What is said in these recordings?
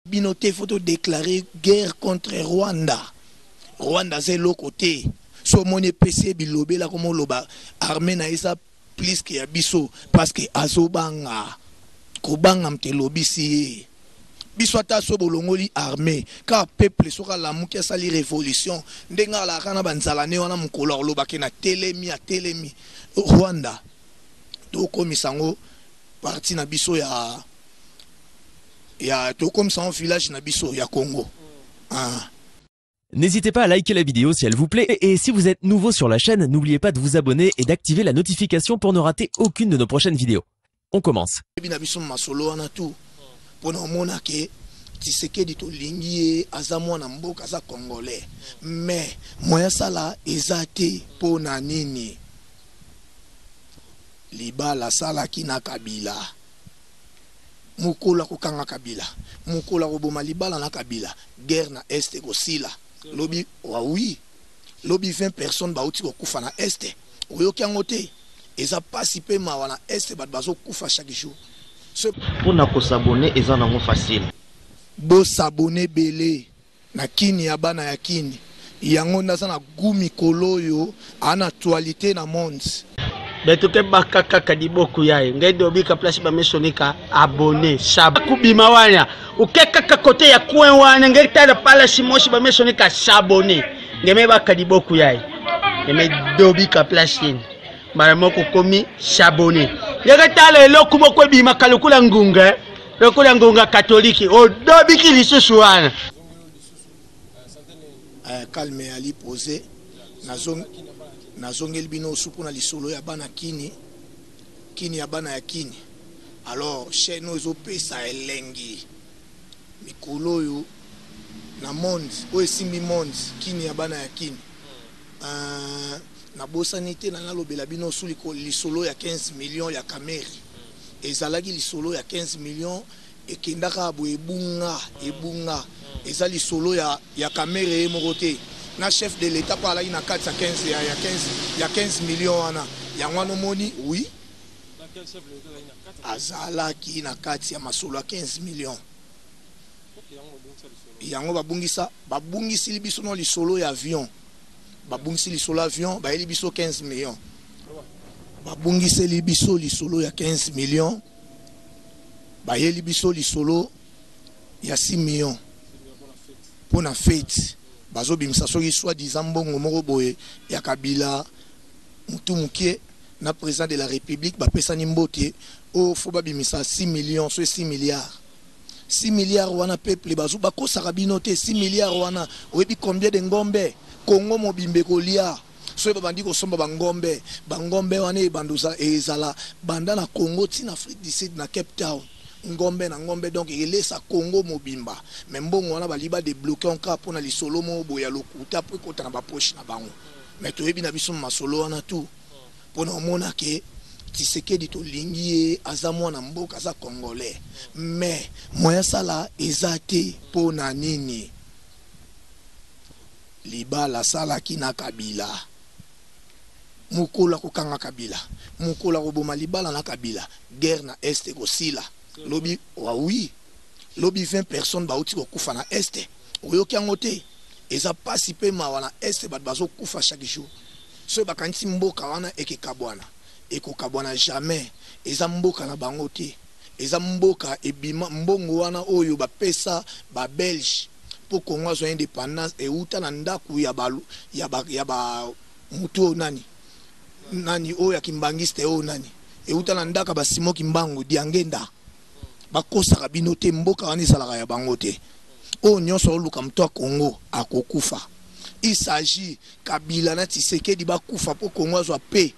bino te faut to declarer guerre contre Rwanda Rwanda aza eloko te so omoni epesi bilobela koma oloba armée na eza plus que ya biso parce que azobanga kobanga mte elobisi ye biso ata so bolongoli armée kaka peuple soki alamuki asali révolution ndenge alaka na banzala ne wana mokolo akolobake na telemi atelemi rwanda tokomisa yango parti na biso ya Ya tokomisa yango village na biso ya Congo aah. N'hésitez pas à liker la vidéo si elle vous plaît et si vous êtes nouveau sur la chaîne, n'oubliez pas de vous abonner et d'activer la notification pour ne rater aucune de nos prochaines vidéos. On commence. Tshisekedi tolingi ye aza mwana mboka aza congolais mais moyen asala eza te mpo na nini libala asalaki na kabila mokolo ako kanga kabila mokolo ako boma libala na kabila guerre na est eko sila lobi wa oui lobi 20 personnes ba wuti ko kufa na est oyoki yango te eza pasi pe mawa na est batu bazo kufa chaque jour ce pona ko s'abonner eza nango facile bo s'abonner ebele Na kin ya bana ya kin. Yango nde aza na gout mikolo oyo a na actualite na monde. Betu kebaka kaka liboku yaye ngende obika place ba misonika abonne sab kubima wana uke kaka kote ya coin wana ngende tala palace mosi ba misonika s'abonne ngeme baka liboku yaye ngeme dobika place yeni mara moko komi s'abonne ngeke tala eloko moko ebimaka lokola ngunga lokola ngonga katolike odobiki lisusu wana eh, calme ya lipose nazongeli bino osu mpona lisolo ya bana kini kini ya bana ya kini alors chaîne oyo ezopesa elengi mikolo oyo na monde oyo esimbi monde kini ya bana ya kini uh, nabosani te na nalobela bino osu lisolo ya 15 million ya kameri Ezalaki lisolo ya 15 millions ekenda kaka boye ebunga ebunga eza lisolo ya ya kamerhe ye moko te na chef de l'etat pe alaki na kati ya 15 ya ya 15 ya 15 millions wana yango wana omoni oui azalaki na kati ya masolo ya 15 millions yango babungisa babungisili biso no lisolo ya avion babungisi lisolo avion bayeli biso 15 millions Babungiseli biso lisolo ya 15 millions, bayeli biso lisolo ya 6 millions mpo na feti. Bazobimisa soki soit disant mbongo moko boye ya Kabila mutu mukie na President de la Republique bapesani mbote o faut babimisa 6 millions soit 6 milliards. 6 milliards wana peuple bazo bakosaka bino te 6 milliards wana oyebi combien de ngombe Congo mobimba ekolia? Soki babandi kosomba ba ngombe, ba ngombe wana ebandoza ezala banda na Congo ti na Afrique du Sud na Cape Town, ngombe na ngombe donc elesa Congo mobimba mais mbongo wana balingi ba debloquer on cas pona lisolo moko boye ya lokuta po ekota na ba poches na bango mais toyebi na biso masolo wana tout pona omona que Tshisekedi tolingi ye aza mwana mboka aza Congolais mais moyen asala eza te pona nini? Libala asalaki na kabila mukolo akokanga kabila mukolo akoboma libala na kabila guerre na est ekosila lobi wa oui lobi 20 personnes bawuti kokufa na est oyoki yango te eza pasi pe mawa na est batu bazokufa chaque jour soki bakanisi mboka wana ekekabwana ekokabwana jamais eza mboka na bango te. Eza mboka ebima mbongo wana oyo ba pesa ba belge po congo azwa independance ewuta na ndaku ya ba mutu oyo nani nani oyo ya kimbanguiste oyo nani ewuta na ndaka ba simon kimbangu diangenda ba kosaka bino te mboka wana ezalaka ya bango te oyo nionso azo luka mutu ya congo ako kufa il s'agit kabila na tshisekedi ba kufa po congo azwa paix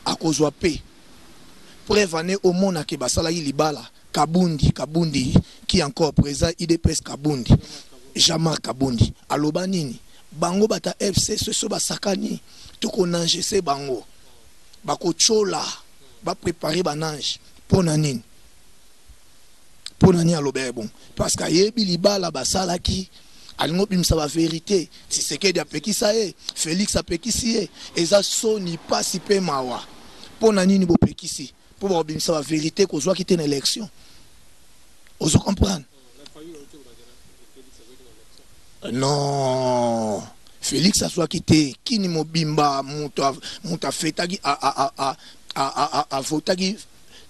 akozwa paix. Preuve en est omona que basalaki libala kabundi kabundi qui encore president udps kabundi jean marc kabundi aloba nini bango batu ya fcc soki basakani toko nangese bango bako tshola ba preparer ba nange pona nini mpo na nini aloba ye bongo parce que ayebi libala basalaki alingi obimisa baverite tisekedi apekisa ye felix apekisi ye eza soni mpasi mpe mawa mpo na nini bopekisi mpo bakobimisa baverite kozwaki te na élection ozo comprendre non felix azwaki te kini mobimba moto afetaki avotaki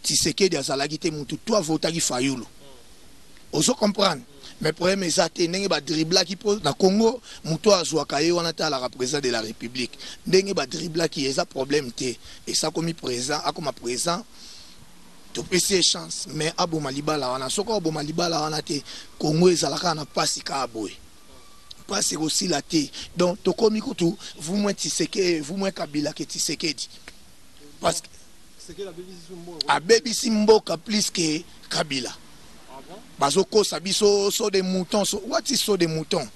Tshisekedi azalaki te mutu to avotaki Fayulu ozo comprendre mais problème eza te ndenge ba driblaki po na Congo mutu azuaka ye wana te alaka president de la Republique ndenge ba driblaki ye eza problème te esi akomi president akoma president topesi ye chance mais aboma libala wana soki aboma libala wana te Congo ezala kaka na pasi kaka boye pasi ekosila te donc tokomi kutu vous moins Tshisekedi vous moins Kabila ke Tshisekedi parce que abebisi mboka plus que kabila bazokosa biso so de mouton so, what is so de mouton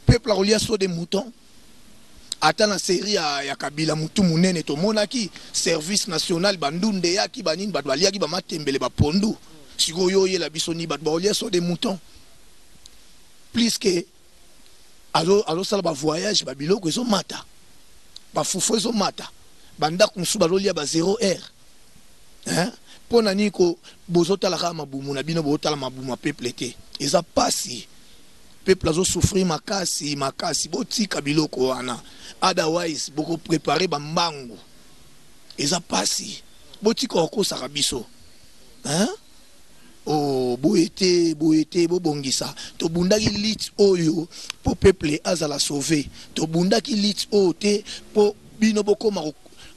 peuple akolia so de mouton ata na série ya, ya kabila motu monene tomonaki service national bandunda eyaki banini bato baliaki bamatembele bapondu sikoyo oyela biso ni bato baolia so de mouton plus que azosala ba voyage ba biloko ezomata ba fufu ezomata ba ndako mosusu bazolia ba zero heure hein? mpo na nini ko bozotala kaka mabumu na bino bozotala mabumu ya peuple te eza mpasi peuple azosouffrir makasi makasi botika biloko wana otherwise bokoprepare bambangu eza mpasi botika kokosaka biso hein? Oh boye te boye te bobongisa tobundaki lutte oyo po peuple azala sauve tobundaki lutte oyo te po bino bokoma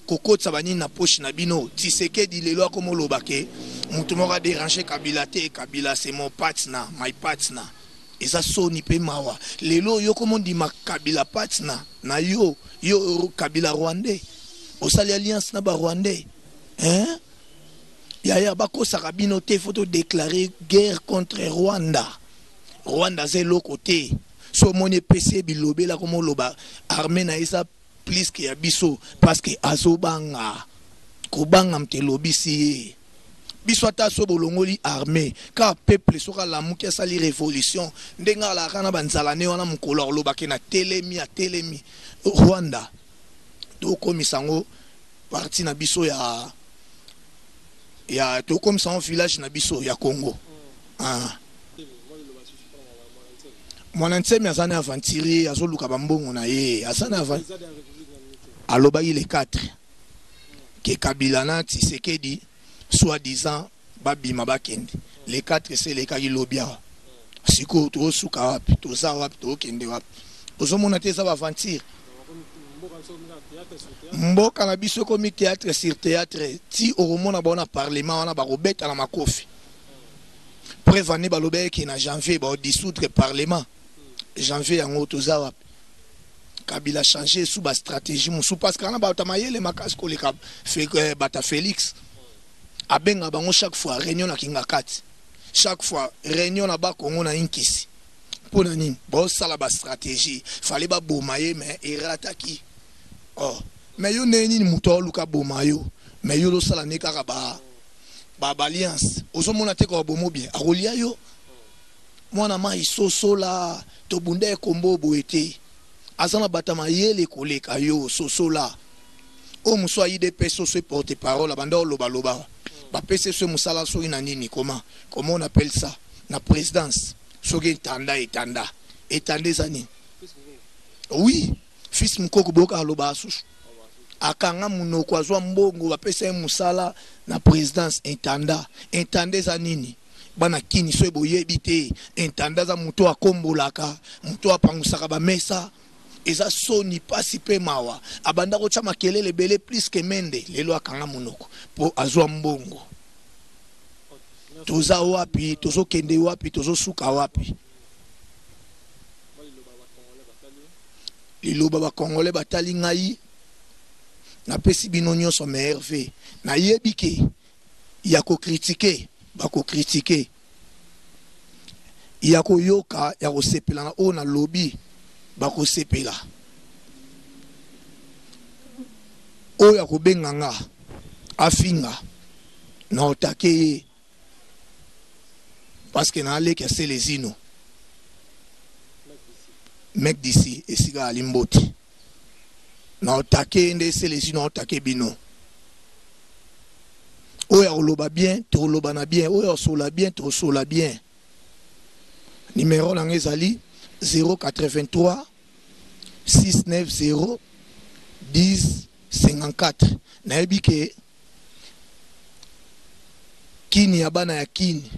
kokotisa banini na poche na bino tisekedi lelo akoma oloba ke moto moko aderange kabila te kabila se mon patna my patna eza soni mpe mawa lelo yo koma ondima kabila patna na yo yo kabila rwandais osali alliance na barwandais eh? yaya bakosaka bino te faut to déclarer guerre contre rwanda rwanda aza eloko te so omoni epesi ye bilobela koma oloba arme na ye eza plus que ya biso parce que azobanga kobanga moto elobisi ye biso ata so bolongoli arme kaka peuple soki alamuki asali révolution ndenge alaka na banzalane wana mokolo alobaki na telemi atelemi rwanda tokomisa ngo partie na biso ya ya tokomisa ngo village na biso ya Congo ah. Mwana Nsemi aza na aventurier azoluka bambongo na ye aza na alobaki le 4 ke Kabila na Tshisekedi soit disant ba bima ba kende le 4 esi elekaki lobi awa sikoyo tozo suka wapi toza wapi tozo kende wapi ozo mona te eza ba aventure mboka na biso ekomi théâtre sur théâtre ti okomona bango na parlement wana bakobeta na makofi preuve ane balobaki ke na janvier baodisoudre parlement janvier yango toza wapi kabila change sous bastratégie mosusu parce kana bato ya mayele makasi koleka eh, bata félix abenga bango chaque fois réunion na kingakati chaque fois réunion na bakongo na inkisi mpo na nini bosala bastratégie fale baboma ye mais erataki oh. mais yo ndenge nini moto aoluka boma yo mais yo losala nde kaka ba baalliance ozomona te kaka bomo bien akolia yo Mwana mayi sosola tobundaye kombo boye te aza na bata mayele koleka yo sosola oyo mosusu ya udps oyo soki porte parole abanda oloba loba bapesi ye soki mosala soki na nini koma comment on appelle ça na presidence soki etanda etanda etanda eza nini oui fils mukoko boyoka aloba asusu akanga munoko azwa mbongo bapesa ye mosala na presidence etanda etanda eza nini Bana kin soki boyebi te intendant aza mutu oyo akombolaka mutu oyo apangusaka ba mesa eza soni pasi pe mawa abanda kotia makelele ebele plus que mende lelo akanga munoko po azua mbongo toza wapi tozo kende wapi tozo suka wapi liloba ba congolais batali ngai napesi bino nionso meilleur vœux nayebi ke ya ko critiquer ba ko critiquer, ya ko yoka ya ko sepela na oyo na lobi ba ko sepela, oyo ako benga nga afinga na attaquer ye parce que na leki ya Celezino mec d'ici esika azali mbote. na otake nde esele esi na otake bino oyo akoloba bien tokoloba na bien oyo akosola bien tokosola bien nimero na ngai ezali 083 690 1054 nayebi ke kini ya bana ya kini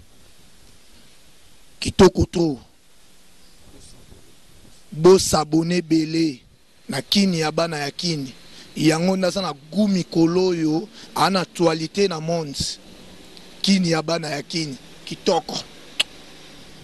kitoko trop Bo s'abonner ebele na kin ya bana ya kin yango nde aza na gout mikolo oyo aza na actualite na monde kin ya bana ya kin kitoko.